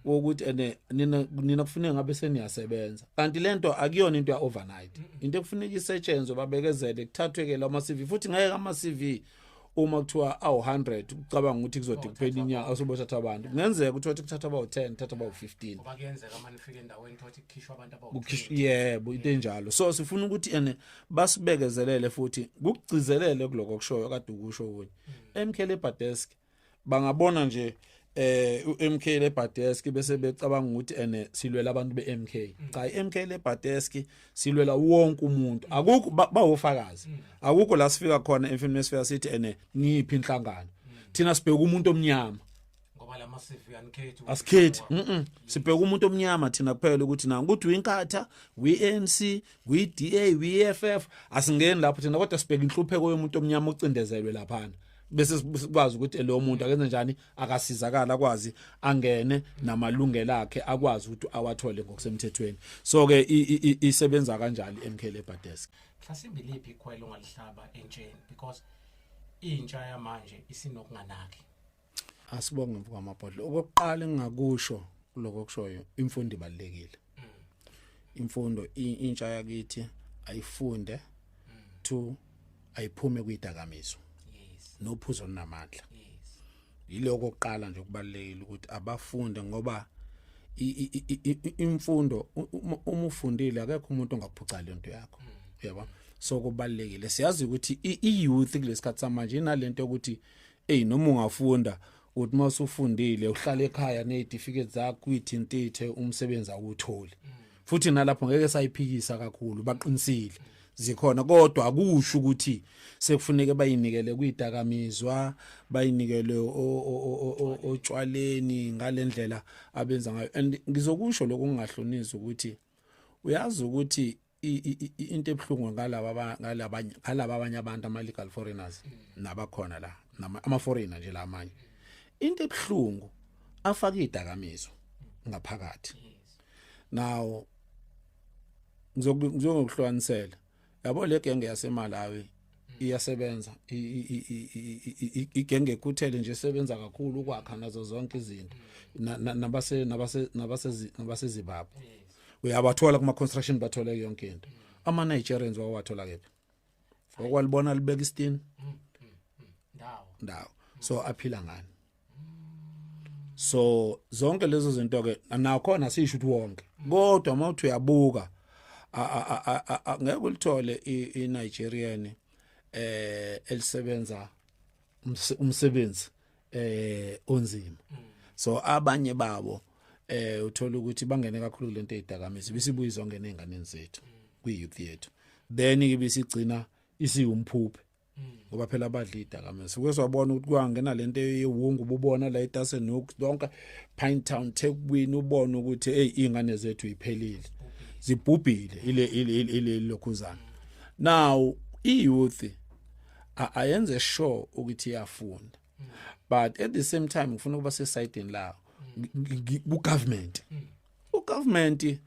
wokuthi ene nina nina kufuneka ngabe seniyasebenza kanti lento akuyona into ya overnight into ekufuneka isetshenzwe babekezele kuthathwe ke lama CV futhi ngeke ama CV uma kuthiwa awu-100 ucabanga ukuthi kuzode kuphela inyanga asobothatha abantu kungenzeka ukuthi wathi kuthatha abawu-10 kuthatha abawu-15 yebo into enjalo so sifuna ukuthi ene basibekezelele futhi kukugcizelele kuloko kushoyo kade ukusho kunye mm. emkhele ebhadesk bangabona nje eh uMK le Badeski bese becabanga ukuthi ene silwela abantu beMK mm. cha iMK le Badeski silwela wonke umuntu mm. akukho bawofakazi mm. akukho la sifika khona emfini mesifika sithi ene ngiphi inhlangano thina sibheka umuntu omnyama ngoba lama CV anikhethi asikhethi mhm sibheka umuntu omnyama thina kuphela ukuthi na ukuthi uyinkatha uyiNC uyiDA uyiFF asingeni lapho thina kodwa sibheka inhlupheko yomuntu omnyama ocindezelwe laphana bese sikwazi ukuthi lo muntu akenze njani akasizakala akwazi angene namalungelo akhe akwazi ukuthi awathole ngokusemthethweni so ke isebenza kanjani iMK Labour Desk mhlasimbe liphi ikhwelo ngalihlaba entsheni because intsha yamanje isinokunganaki asibonge mvuka amabhodlo okokuqala engingakusho lokho kushoyo imfundo ibalekile imfundo intsha yakithi ayifunde to ayiphume kwidakamizwa nophuzo olunamandla yiloko oqala nje kubalekile ukuthi abafunde ngoba imfundo uma ufundile akekho umuntu ongakuphuca le nto yakho mm. yabo so kubalekile siyazi ukuthi i-youth kulesikhathi samanje inalento ukuthi eyi noma ungafunda uthi uma usufundile uhlala ekhaya ney'tifiketi zakho uyithintithe umsebenzi awutholi futhi nalapho ngeke sayiphikisa kakhulu baqinisile zikhona kodwa akusho ukuthi sekufuneke bayinikele kwidakamizwa bayinikele otshwaleni ngalendlela abenza ngayo and ngizokusho lokungahlonisa ukuthi uyazi ukuthi into ebuhlungu ngalaba ngalaba ngalaba abanye abantu ama legal foreigners nabakhona la ama foreigner nje la amanye into ebuhlungu afaka idakamizo ngaphakathi now ngizokuhlukanisela yabo le genge yasemalawi iyasebenza igenge kuthele nje sebenza kakhulu ukwakha nazo zonke izinto nabase nabase nabase nabase Zimbabwe uyabathola kuma construction bathola yonke into ama Nigerians wawathola kephi okwalibona libeka istin ndawo ndawo so aphila ngani so zonke lezo zinto ke nakhona sisho ukuthi wonke kodwa uma uthi uyabuka ngeke ulithole iNigerian eh elisebenza umsebenzi eh onzima so abanye babo eh uthola ukuthi bangene kakhulu lento ezidakamizwa bisibuyi zonke nezingane zethu kwi youth yethu then ibisigcina isiwumphuphe ngoba phela abadla idakamizwa suke swabona ukuthi kwangena lento yewungu ububona la eTasen Nook lonke Pine Town Thekwini ubona ukuthi hey ingane zethu iphelile zibhubhile ile ile lokhuzana now i youth ayenze sure ukuthi iyafunda but at the same time ngifuna ukuba se side lawo ku government u government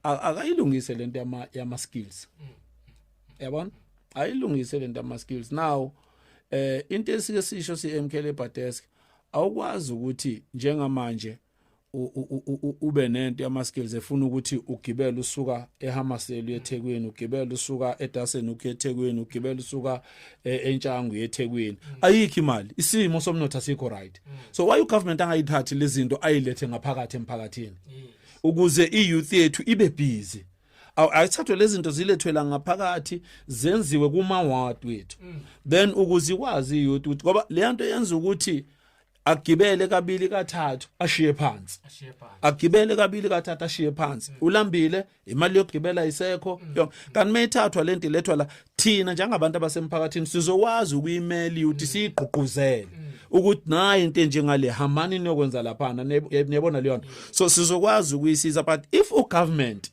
akayilungise lento yama yama skills yabona ayilungise lento yama skills now eh into esike sisho si MK Labor Desk awukwazi ukuthi njengamanje ube nento yama skills efuna ukuthi ugibele usuka eHamasel uyeThekwini ugibele usuka eDasen uyeThekwini ugibele usuka e, eNtshangu uyeThekwini mm. ayikho imali isimo somnotho asikho right mm. so why u government angayithathi lezinto ayilethe ngaphakathi emphakathini mm. ukuze i-youth yethu ibe busy ayithathwe lezi zinto zilethwela ngaphakathi zenziwe kuma-ward wethu mm. then ukuze ikwazi i-youth ukuthi ngoba leya nto yenza ukuthi agibele kabili kathathu ashiye phansi agibele kabili kathathu ashiye phansi mm. ulambile imali yokugibela isekho mm. kanti mayithathwa lento ilethwa la thina njengabantu abasemphakathini sizokwazi ukuyimela ukuthi mm. siyigqugquzele mm. ukuthi nayi into enjengale hambani niyokwenza laphana niyabona leyo nto so sizokwazi ukuyisiza but if u government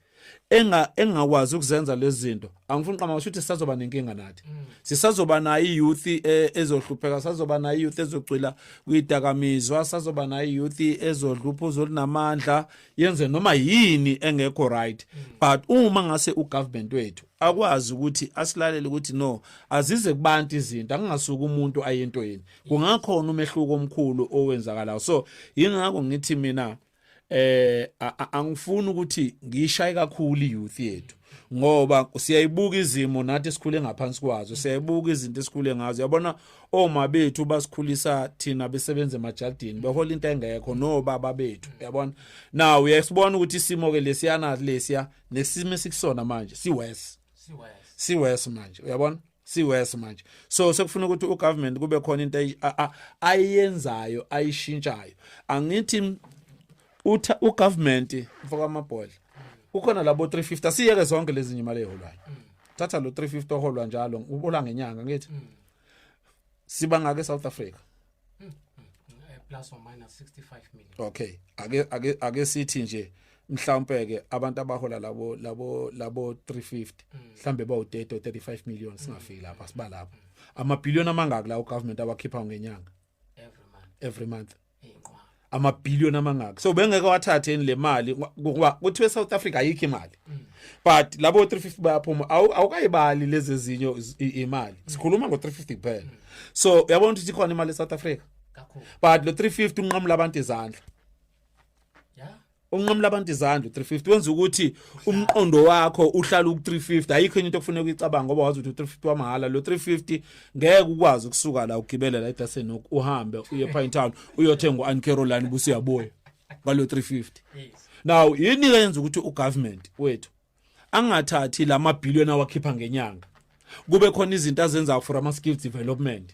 enga engakwazi ukuzenza lezi zinto angifuni qama ukuthi sisazoba nenkinga nathi mm. sisazoba nayo youth e, ezohlupheka sazoba nayo youth ezocwila kwidakamizwa sazoba nayo youth ezodlupha uzolinamandla yenze noma yini engekho right mm. but uma ngase ugovernment wethu akwazi ukuthi asilalele ukuthi no azize kubantu izinto akungasuka umuntu ayento yini kungakhona umehluko omkhulu owenzakalayo so yingakho ngithi mina eh angifuni ukuthi ngishaye kakhulu youth yethu ngoba siyayibuka izimo nathi esikhule ngaphansi kwazo siyayibuka izinto esikhule ngazo yabona oma bethu basikhulisa thina besebenza emajardini behola into engekho no baba bethu yabona now uyasibona ukuthi isimo ke lesiyana lesiya nesimo esikusona manje siwes siwes siwes manje uyabona siwes manje so sekufuna ukuthi ugovernment kube khona into ayenzayo ayishintshayo angithi utha ugovernment mfoka amabhodla kukhona labo 350 siyeke zonke lezi nyimali eholwayo mm. thatha lo 350 oholwa njalo ubola ngenyanga ngithi mm. siba ngake South Africa hmm, hmm, hmm, eh, plus or minus 65 million okay ake ake ake sithi nje mhlawumbe ke abantu abahola labo labo labo 350 mhlambe bawu 30 35 million singafiki lapha siba lapha ama billion amangaki la u government awakhipha ngenyanga every month every month amabhillion amangaka so bengeke wathathe le mali ngoba kuthiwe South Africa ayikho imali mm. but labo 350 bayaphuma awukayibali lezi ezinyo imali mm. sikhuluma ngo 350 kuphela mm. so uyabona ukuthi ikhona imali eSouth Africa but lo 350 unqamula abantu izandla unqamula abantu izandla 350 wenza ukuthi umqondo wakho uhlala ku 350 ayikho into okufanele ukuyicabanga ngoba wazi ukuthi 350 wamahhala lo 350 ngeke ukwazi ukusuka la ugibele la eDasen uhambe uye Pine Town uyothenga uAn Caroline busiyabuya ngalo 350 now yini yenza ukuthi ugovernment wethu angathathi la mabhillion awakhipha ngenyanga kube khona izinto azenzayo for ama skill development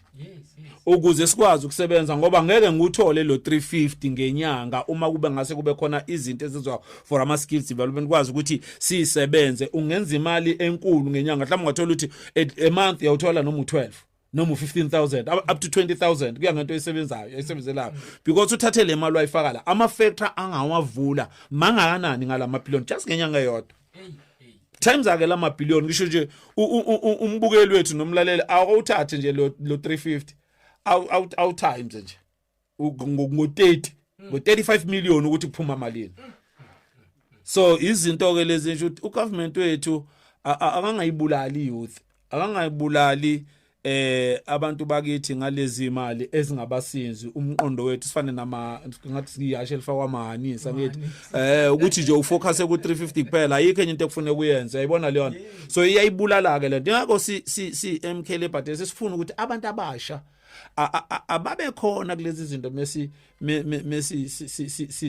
ukuze sikwazi ukusebenza ngoba ngeke ngikuthole lo 350 ngenyanga uma kube ngase kube khona izinto ezizwa for ama skills development kwazi ukuthi sisebenze ungenza imali enkulu ngenyanga mhlawumbe ungathola ukuthi a month uyawuthola noma u12 noma u15000 up to 20000 kuya ngento esebenzayo esebenzelayo because uthathe le mali wayifaka la ama factor angawavula mangakanani ngalama billion just ngenyanga eyodwa times ake lama billion ngisho nje umbukeli wethu nomlaleli awuthathe nje lo 350 awu times nje ngo-30 ngo-35 million ukuthi kuphuma malini so izinto ke lezi nje ukuthi ugovernment wethu akangayibulali youth akangayibulali eh abantu bakithi ngalezi imali ezingabasinzi umqondo wethu sifane nama ngathi siyashe lifakwa amahanisa ngithi eh ukuthi nje ufocus ku 350 kuphela ayikho enye into ekufuneka uyenze uyayibona leyo so iyayibulala ke lento ngakho si si si MK Liberty sifuna ukuthi abantu abasha ababe khona kulezi zinto mesi mesi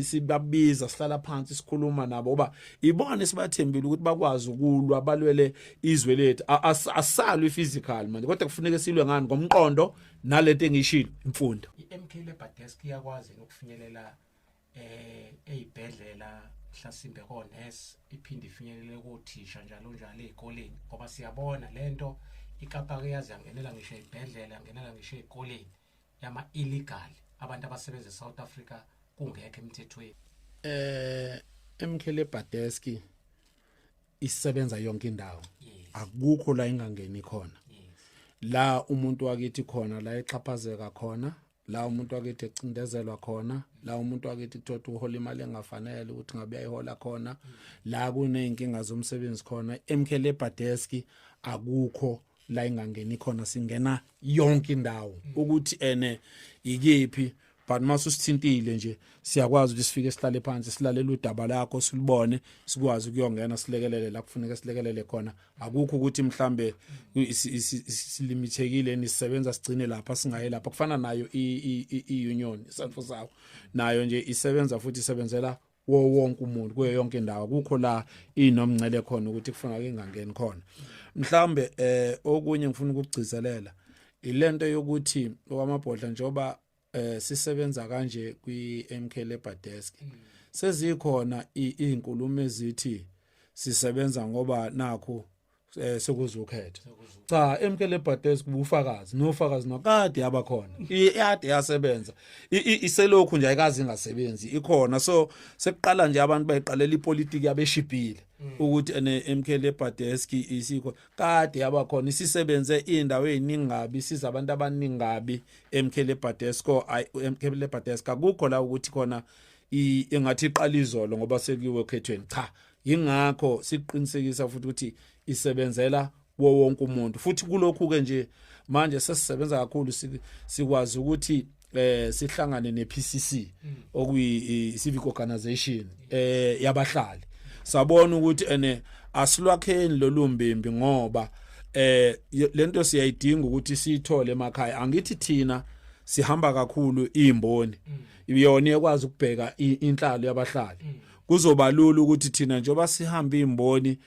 sibabiza sihlala phansi sikhuluma nabo oba ibona esibathembile ukuthi bakwazi ukulwa balwele izwe lethu asalwe physical manje kodwa kufuneka silwe ngani ngomqondo nalento engishilo imfundo iMK Labour Desk iyakwazi ukufinyelela eh ezibhedlela mhlasimbe konesi iphinde ifinyelele kothisha njalo njalo ezikoleni ngoba siyabona lento ikapa ke yazi yangenela ngisho ezibhedlela yangenela ngisho ezikoleni yama illegal abantu abasebenza eSouth Africa kungekho emthethweni eh emkhele badeski isebenza yonke indawo akukho la ingangeni khona la umuntu wakithi khona la exhaphazeka khona la umuntu wakithi ecindezelwa khona la umuntu wakithi kuthothi uhola imali engafanele ukuthi ngabe ayihola khona la kuneyinkinga zomsebenzi khona emkhele ebadesk akukho la ingangeni khona singena yonke indawo ukuthi ene ikephi but mase usithintile nje siyakwazi ukuthi sifike sihlale phansi silalele udaba lakho silubone sikwazi ukuyongena silekelele la kufuneka silekelele khona akukho ukuthi mhlambe silimithekile nisebenza sigcine lapha singaye lapha kufana nayo i-union isanfo sawo nayo nje isebenza futhi isebenzela wo wonke umuntu kuyo yonke indawo kukho la inomncele khona ukuthi kufanele ingangeni khona mhlambe eh okunye ngifuna ukugcizelela ilento yokuthi okwamabhodla njoba eh sisebenza kanje kwi MK Labor Desk mm. sezikhona izinkulumo ezithi sisebenza ngoba nakho eh sekuzukhetha cha emkele bhades kubufakazi nofakazi nokade yabakhona iyade yasebenza iselokhu nje ayikazi ingasebenzi ikhona so sekuqala nje abantu bayiqalela ipolitiki yabeshibhile mm. ukuthi ene emkele bhades isikho kade yaba khona isisebenze indawo eziningabi siza abantu abaningabi emkhele Badesco emkhele Badesca kukho la ukuthi khona ingathi iqala izolo ngoba sekuyiwe khethweni cha yingakho siqinisekisa futhi ukuthi isebenzela wo wonke umuntu futhi kulokhu ke nje manje sesisebenza kakhulu sikwazi ukuthi eh sihlangane nePCC mm. okuyi civic organization eh yabahlali sabona ukuthi ene asilwakheni lolumbimbi ngoba eh lento siyayidinga ukuthi siyithole emakhaya angithi thina sihamba kakhulu imboni mm. iyona ekwazi ukubheka inhlalo yabahlali mm. kuzoba lula ukuthi thina njengoba sihamba imboni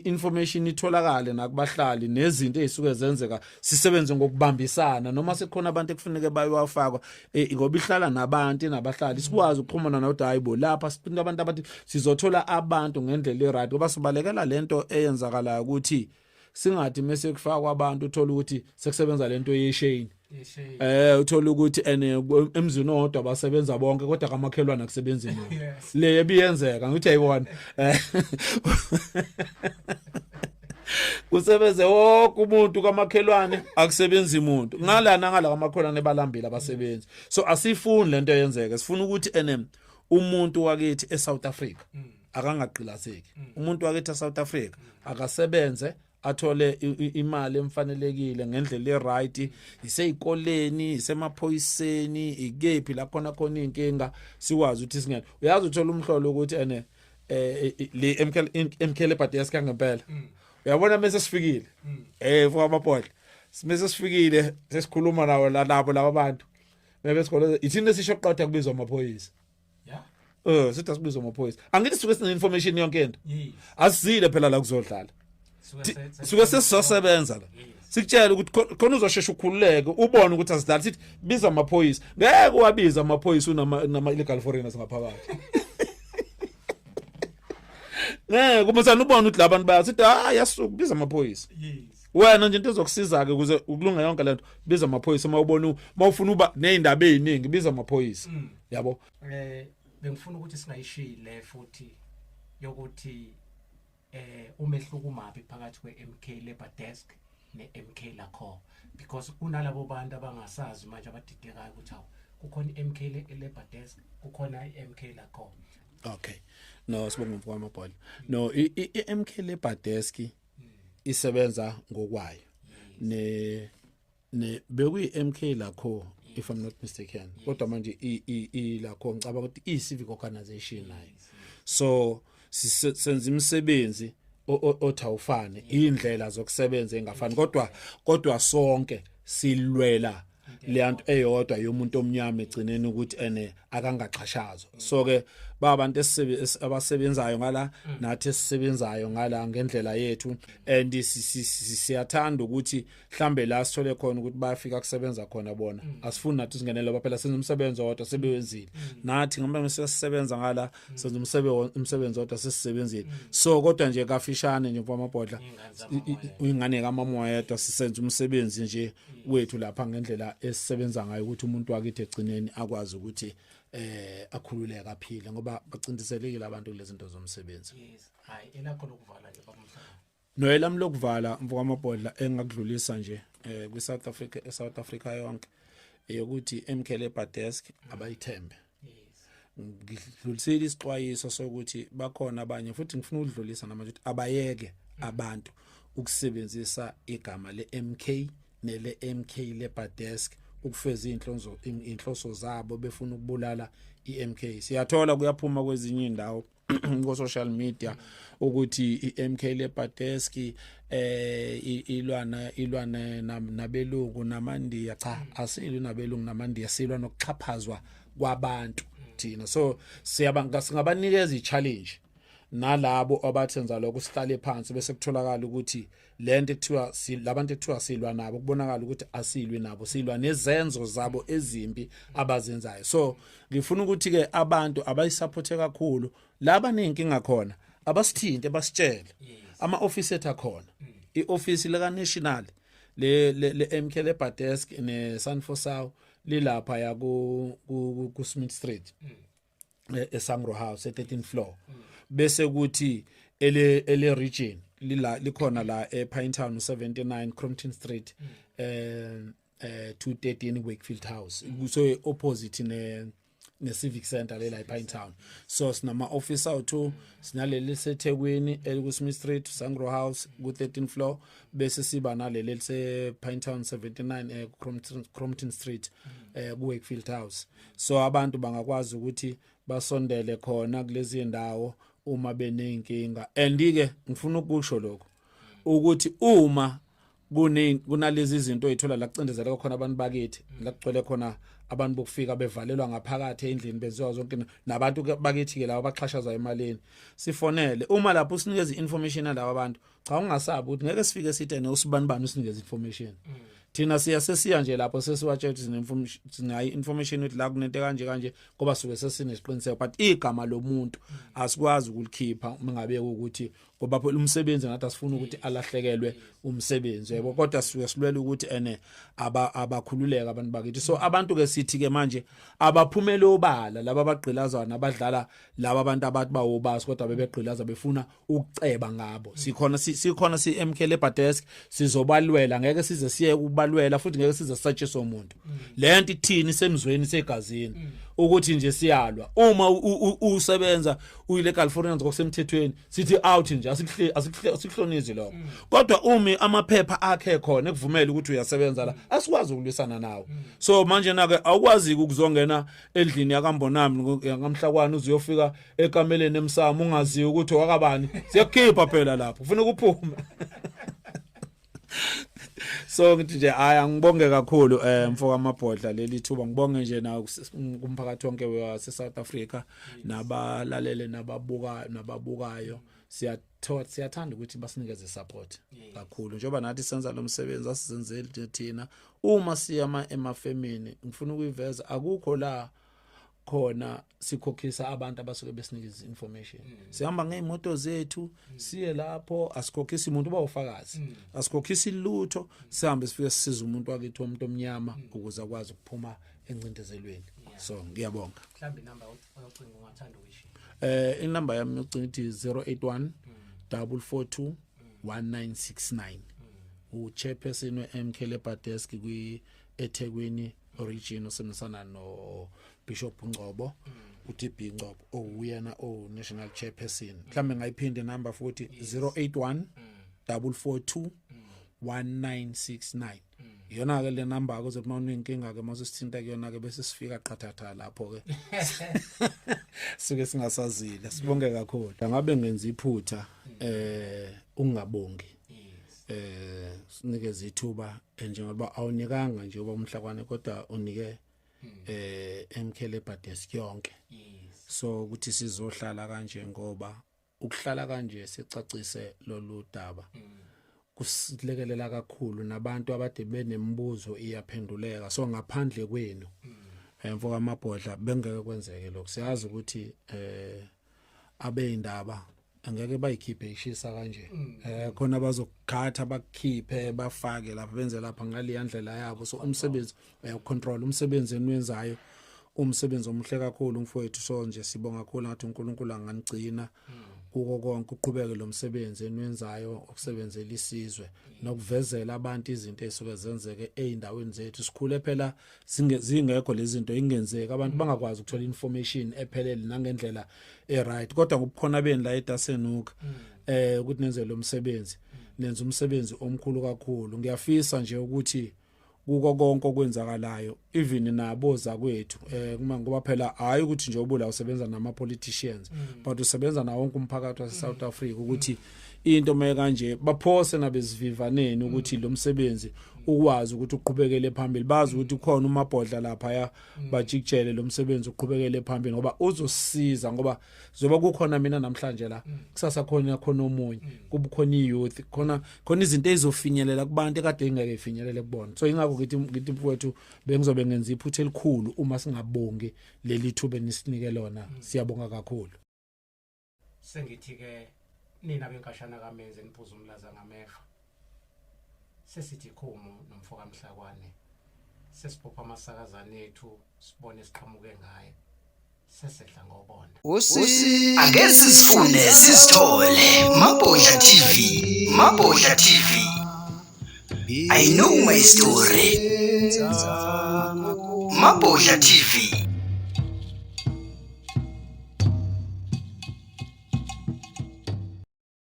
information itholakale nakubahlali nezinto ezisuke zenzeka sisebenze ngokubambisana noma sekukhona abantu ekufuneke bayowafakwa e, ngoba ihlala nabantu nabahlali sikwazi ukuxhumana nokuthi hayibo lapha siqinta abantu abathi sizothola abantu ngendlela e-right ngoba sibalekela lento eyenzakalayo ukuthi singathi mese kufakwa abantu uthola ukuthi sekusebenza lento yesheni Eh uthola ukuthi ene emzini owodwa basebenza bonke kodwa kamakhelwana kusebenza imali. Le ebiyenzeka ngithi ayibona. Eh. kusebenze wonke umuntu kamakhelwane akusebenzi umuntu ngalana ngala kamakhelwane balambile abasebenzi so asifuni lento yenzeke sifuna ukuthi enem umuntu wakithi eSouth Africa mm. akangaqilazeki mm. umuntu wakithi eSouth Africa mm. akasebenze athole imali emfanelekile ngendlela eright iseyikoleni isemaphoyiseni ikephi la khona khona inkinga siwazi ukuthi singena uyazi uthola umhlolo ukuthi ene eh, eh le MK MK le party yaska ngempela mm. uyabona mase sifikile mm. eh for amapodla mase sifikile sesikhuluma nawo labo laba bantu bebe sikole ithina sisho qatha kubizwa amaphoyisa yeah eh sithi asibize amaphoyisa angithi suke sine information yonke into asizile phela la kuzodlala suke sesizosebenza la sikutshela ukuthi khona uzoshesha ukhululeke ubone ukuthi asidlali sithi biza amaphoyisa ngeke wabiza amaphoyisa unama nama illegal foreigners ngaphakathi ngeke uma sana ubone ukuthi labantu bayathi sithi hayi yasuka biza amaphoyisa wena nje into ezokusiza ke ukuze ukulunga yonke lento biza amaphoyisa uma ubona uma ufuna uba nezindaba eziningi biza amaphoyisa mm. yabo eh bengifuna ukuthi singayishiyi le futhi yokuthi eh umehluko umabi phakathi kweMK Labor Desk neMK lakho because kunalabo bantu abangasazi manje abadidekayo ukuthi awu kukhona iMK Labor Desk kukhona iMK lakho okay no sibonga mfowethu amabhola no iMK Labor Desk hmm. isebenza ngokwayo hmm. ne ne bekuyi MK lakho if i'm not mistaken kodwa manje i lakho ngicaba ukuthi i civic organization nayo so senza imisebenzi othawufane indlela zokusebenza engafani kodwa kodwa sonke silwela leyanto eyodwa yomuntu omnyama egcineni ukuthi ene akangaxhashazwa so ke babantu abasebenzayo ngala nathi esisebenzayo ngala ngendlela yethu and siyathanda ukuthi mhlambe la sithole khona ukuthi bayafika kusebenza khona bona mm. asifuni nathi singenele ngoba phela senza umsebenzi wodwa sebewenzile mm. nathi ngoba sesisebenza ngala mm. senza umsebenzi umsebenzi wodwa sesisebenzile mm. so kodwa nje kafishane nje mfama bodla ingane kamamoya yedwa sisenza umsebenzi nje mm. wethu lapha ngendlela esisebenza ngayo ukuthi umuntu wakithi egcineni akwazi ukuthi eh akhululeke aphile ngoba bacindiselekile abantu kulezinto zomsebenzi yes hayi elakho lokuvala nje baba Noyelami lokuvala mfokamabhodla engakudlulisa nje eh kwi South Africa e South Africa yonke eyokuthi emkhele badesk abayithembe ngidlulisile isixwayiso sokuthi bakhona abanye futhi ngifuna ukudlulisa namanje ukuthi abayeke abantu ukusebenzisa igama leMK nele MK Labour Desk ukufeza inhlonzo inhloso zabo befuna ukubulala iMK siyathola kuyaphuma kwezinye indawo ko social media ukuthi iMK Lepateski eh ilwana ilwana nabelungu namandiya cha mm. asili nabelungu namandiya silwa nokuxhaphazwa kwabantu thina so siyabanga singabanikeza i challenge nalabo abathenza lokho sihlale phansi bese kutholakala ukuthi lento ekuthiwa labantu ekuthiwa silwa nabo kubonakala ukuthi asilwi nabo silwa nezenzo zabo ezimbi abazenzayo so ngifuna ukuthi ke abantu abayisupporte kakhulu laba nenkinga khona abasithinte basitshele ama office ethu akhona mm. i office leka national le le MK le Badesk ne Sanfosao lilapha ya ku ku Smith Street mm. eh, eSangro House e13 floor bese kuthi ele ele region lila likhona la ePinetown 79 Crompton Street eh eh 213 Wakefield House kuso opposite ne ne civic center le la ePine Town so sinama office awuthu sinaleli seThekwini elikuSmith Street Sangro House ku 13 floor bese siba naleli lise Pine Town 79 eh Crompton Street eh ku Wakefield House so abantu bangakwazi ukuthi basondele khona kulezi ndawo uma beneyinkinga and ke ngifuna ukusho lokho ukuthi uma kune kunalezi zinto ezithola la kucindezeleka khona abantu bakithi la kugcwele khona abantu bokufika bevalelwa ngaphakathi endlini benziwa zonke nabantu bakithi ke laba baxhashazwa emalini sifonele uma lapho usinikeza information yalabo abantu cha ungasabi ukuthi ngeke sifike sithe ne usibani bani usinikeza information mm. thina siya sesiya nje lapho sesiwatshela ukuthi sinemfumishi sinayi information ukuthi la kunento kanje kanje ngoba suke sesinesiqiniseko but igama lomuntu asikwazi ukulikhipha uma ngabe ukuthi ngoba phela umsebenzi ngathi asifuna ukuthi alahlekelwe umsebenzi yebo kodwa suke silwela ukuthi ene aba abakhululeka abantu bakithi so abantu ke sithi ke manje abaphumele obala laba abagqilazana abadlala laba abantu abathi bawobasi kodwa bebegqilaza befuna ukuceba ngabo sikhona sikhona si MK Labor Desk sizobalwela ngeke size siye kubalwela futhi ngeke size sisatshise umuntu mm. lento ithini semzweni segazini mm. ukuthi nje siyalwa uma usebenza uyile California ngokusemthethweni sithi out nje asihle asihlonizi lokho mm. kodwa umi amaphepha akhe khona ekuvumela ukuthi uyasebenza la asikwazi ukulwisana nawo so manje nake awukwazi ukuzongena endlini yakambonami yakamhlakwana uzuyofika ekameleni emsamo ungaziyo ukuthi wakabani siyakukhipha phela lapho ufuna ukuphume so ngithi nje hayi angibonge kakhulu um eh, mfo kamabhodla leli thuba ngibonge nje na kumphakathi wonke wase-south africa nabalalele nababukayo nababukayo siyathanda ukuthi basinikeze support kakhulu njengoba nathi senza lo msebenzi asizenzeli thina uma siyama emafemini ngifuna ukuyiveza akukho la khona sikhokhisa abantu abasuke besinikeza information mm. sihamba ngeimoto zethu mm. siye lapho asikhokhisi umuntu uba ufakazi mm. asikhokhisi lutho mm. sihambe sifike sisiza umuntu wakithi umuntu omnyama mm. ukuze akwazi ukuphuma encindezelweni yeah. so ngiyabonga mhlambi number ocinga ungathanda ukuyisho eh inumber yami yocinga ithi 081 mm. 442 mm. 1969 mm. u chairperson we MK Labor Desk kwi mm. eThekwini origin osebenzisana no Bishop Ngcobo uTB Ngcobo owuyena o national chairperson mhlambe ngayiphinde number futhi 081 442 1969 iyona ke le number ke uzothi mawune inkinga ke mase sithinta kuyona ke bese sifika qhathatha lapho ke suke singasazile sibonge kakhulu ngabe ngenza iphutha eh ungabongi eh sinikeza ithuba eh, njengoba awunikanga nje uba umhlakwane kodwa unike hmm. eh emkhele badesk yonke so ukuthi sizohlala kanje ngoba ukuhlala kanje sicacise lolu daba hmm. kusilekelela kakhulu nabantu abade benemibuzo iyaphenduleka so ngaphandle kwenu hmm. emfo eh, kamabhodla bengeke kwenzeke lokho siyazi ukuthi eh abeindaba angeke bayikhiphe ishisa kanje mm. eh khona bazokukhatha bakukhiphe bafake lapha benze lapha ngale yandlela yabo so umsebenzi uyacontrol umsebenzi enwenzayo umsebenzi omuhle kakhulu mfowethu so nje sibonga kakhulu ngathi uNkulunkulu anganigcina mm. kuko konke uqhubeke lo msebenzi enwenzayo okusebenzela isizwe nokuvezela abantu izinto ezisuke zenzeke eindaweni zethu sikhule phela zingekho lezinto ingenzeki abantu bangakwazi ukuthola information ephelele nangendlela eright kodwa ngobukhona beni la eDasenuka mm. eh ukuthi nenze lo msebenzi nenza umsebenzi omkhulu kakhulu ngiyafisa nje ukuthi kuko konke okwenzakalayo even nabo zakwethu eh kuma ngoba phela hayi ukuthi nje ubula usebenza nama politicians mm. but usebenza na wonke umphakathi wase South mm. Africa ukuthi mm. into maye kanje baphose nabezivivaneni ukuthi lo msebenzi ukwazi ukuthi uqhubekele phambili bazi ukuthi khona umabhodla lapha ya mm. bajikjele lo msebenzi uqhubekele phambili ngoba uzosiza ngoba zoba kukhona mina namhlanje la mm. kusasa khona khona omunye mm. kubukhona iyouth khona khona izinto ezizofinyelela kubantu ekade ingeke ifinyelele kubona so ingakho ngithi ngithi mfowethu bengizobe ngenza iphutha elikhulu uma singabongi leli thuba nisinike lona siyabonga kakhulu Sengithi-ke nina benkashana kamenzi eniphuza umlaza ngameva. Sesithi khumu nomfo kamhlakwane. Sesiphupha amasakazane ethu sibone siqhamuke ngaye. Sesedla ngobonda. Usi ake sizifune sizithole Mabhodla TV Mabhodla TV I know my story. Mabodla TV.